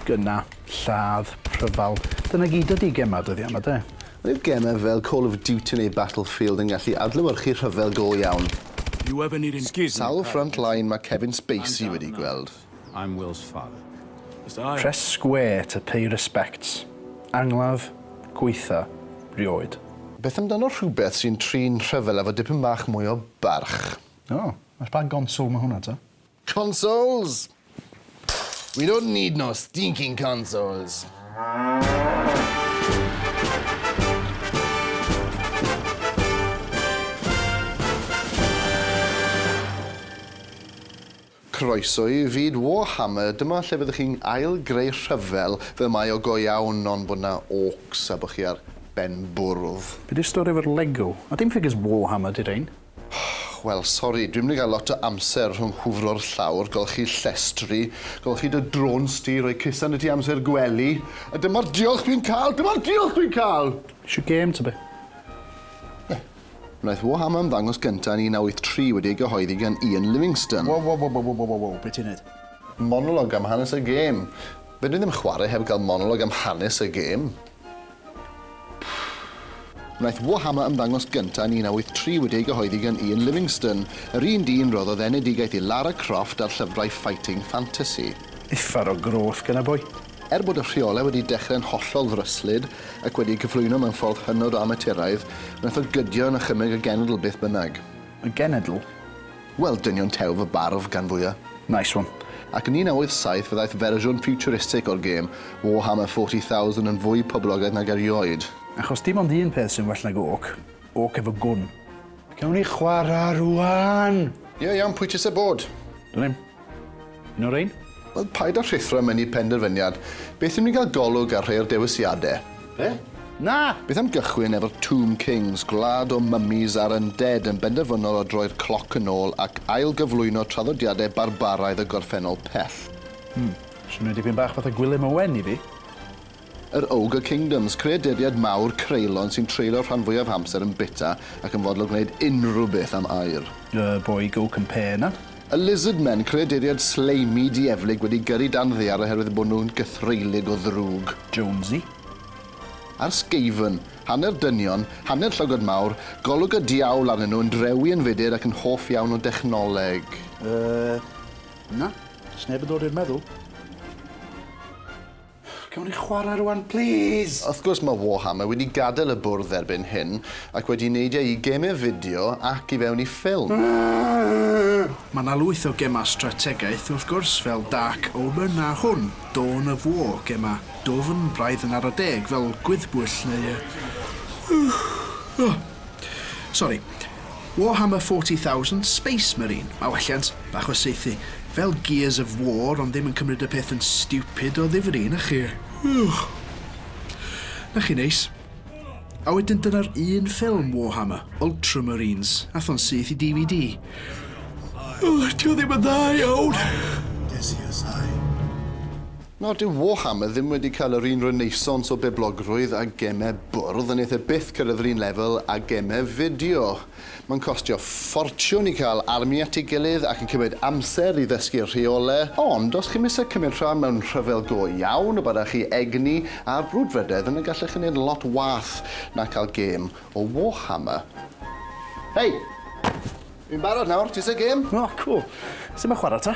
Gyna, lladd, rhyfel. Dyna gyd ydi gemau dyddiau yma, de? Roedd gemau fel Call of Duty neu Battlefield yn gallu adlewyrchu rhyfel go iawn. You have an irin- Excuse me, Sawl front line mae Kevin Spacey wedi gweld? I'm Will's father. Press square to pay respects. Angladd, gwaetha, rioed. Beth amdano rhywbeth sy'n trin rhyfel efo dipyn bach mwy o barch? O, ar ba gonsol ma' hwnna ta? Consoles! We don't need no stinking consoles! Croeso i fyd Warhammer, dyma lle fyddwch chi'n ail greu rhyfel fel mae o go iawn ond bod 'na orcs a bod chi ar ben bwrdd. Be di'r stori efo'r Lego? A dim ffigyr's Warhammer di rhein. Wel sori, dwi'm di gael lot o amser rhwng hwfro'r llawr, golchi llestri, golchi dy drôns di, rhoi cusan i ti amser gwely, a dyma'r diolch dwi'n cael, dyma'r diolch dwi'n cael! Isio gêm ta be? Ie. Wnaeth Wham ymddangos gyntaf yn 1983 wedi ei gyhoeddi gan Ian Livingstone. Wow wow wow wow wow wow, be ti'n neud? Monolog am hanes y gêm. Fedrwn i ddim chwarae heb gael monolog am hanes y gêm. Wnaeth Wham ymddangos gyntaf yn 1983 wedi ei gyhoeddi gan Ian Livingstone, yr un dyn roddodd enedigaeth i Lara Croft ar llyfrau Fighting Fantasy. Uffar o groth gynna boi. Er bod y rheolau wedi dechrau'n hollol ddryslyd ac wedi eu cyflwyno mewn ffordd hynod o amaturaidd, wnaeth o gydio yn achymeg y genedl beth bynnag. Y genedl? Wel, dynion tew fy barf, gan fwya'. Nice one. Ac yn 1987 fe ddaeth fersiwn ffiwturistig o'r gêm, Warhammer 40,000, yn fwy poblogaidd nag erioed. Achos dim ond un peth sy'n well nag orc, orc efo gwn. Gawn ni chwarae rŵan! Ie, iawn, pwy ti isie bod? Dwn i'm. Noreen? Wel, paid â rhuthro mewn i penderfyniad. Beth i mi gael golwg ar rhai o'r dewisiadau? Be? Na! Beth am gychwyn efo'r Tomb Kings, gwlad o mummies a'r undead yn benderfynol o droi'r cloc yn ôl ac ail-gyflwyno traddodiadau barbaraidd y gorffennol pell? Hmm, swnio dipyn bach fatha Gwilym Owen i fi. Yr Ogre Kingdoms, creaduriaid mawr creulon sy'n treulio'r rhan fwyaf amser yn bita ac yn fodlon gwneud unrhyw beth am aur. The Boy Go Compare 'na. Y Lizard Men, creaduriaid sleimi dieflig wedi gyrru dan ddaear oherwydd bod nhw'n gythreulig o ddrwg. Jonesy. A'r Skaven, hanner dynion, hanner llygod mawr, golwg y diawl arnyn nhw, yn drewi yn fudur ac yn hoff iawn o dechnoleg. Yy, na, does neb yn dod i'r meddwl. Gewn ni chwarae rwan plîs? Wrth gwrs mae Warhammer wedi gadael y bwrdd erbyn hyn ac wedi neidio i gemau fideo ac i fewn i ffilm. Mae yna lwyth o gemau strategaeth wrth gwrs fel Dark Omen a hwn, Dawn of War, gemau dwfn, braidd yn ara deg, fel Gwyddbwyll neu yy yy yy sori. Warhammer 40,000, Space Marine, mae welliant bach o saethu fel Gears of War ond ddim yn cymryd y peth yn stupid o ddifri, na chi? Ych! Na chi neis. A wedyn dyna'r un ffilm Warhammer, Ultramarines, ath o'n syth i DVD. Ych, dio ddim yn dda iawn. Nawr, dyw Warhammer ddim wedi cael yr un renaissance o boblogrwydd â gemau bwrdd, a wneith e byth cyrraedd yr un lefel â gemau fideo. Mae'n costio ffortiwn i cael army at ei gilydd ac yn cymryd amser i ddysgu'r rheolau, ond os chi'm eisiau cymryd rhan mewn rhyfel go iawn y byddech chi egni a'r brwdfrydedd yna gallech chi wneud lot wath na cael gêm o Warhammer. Hei! Fi'n barod nawr, ti isie gêm? O, cŵl. Sut mae chwarae ta?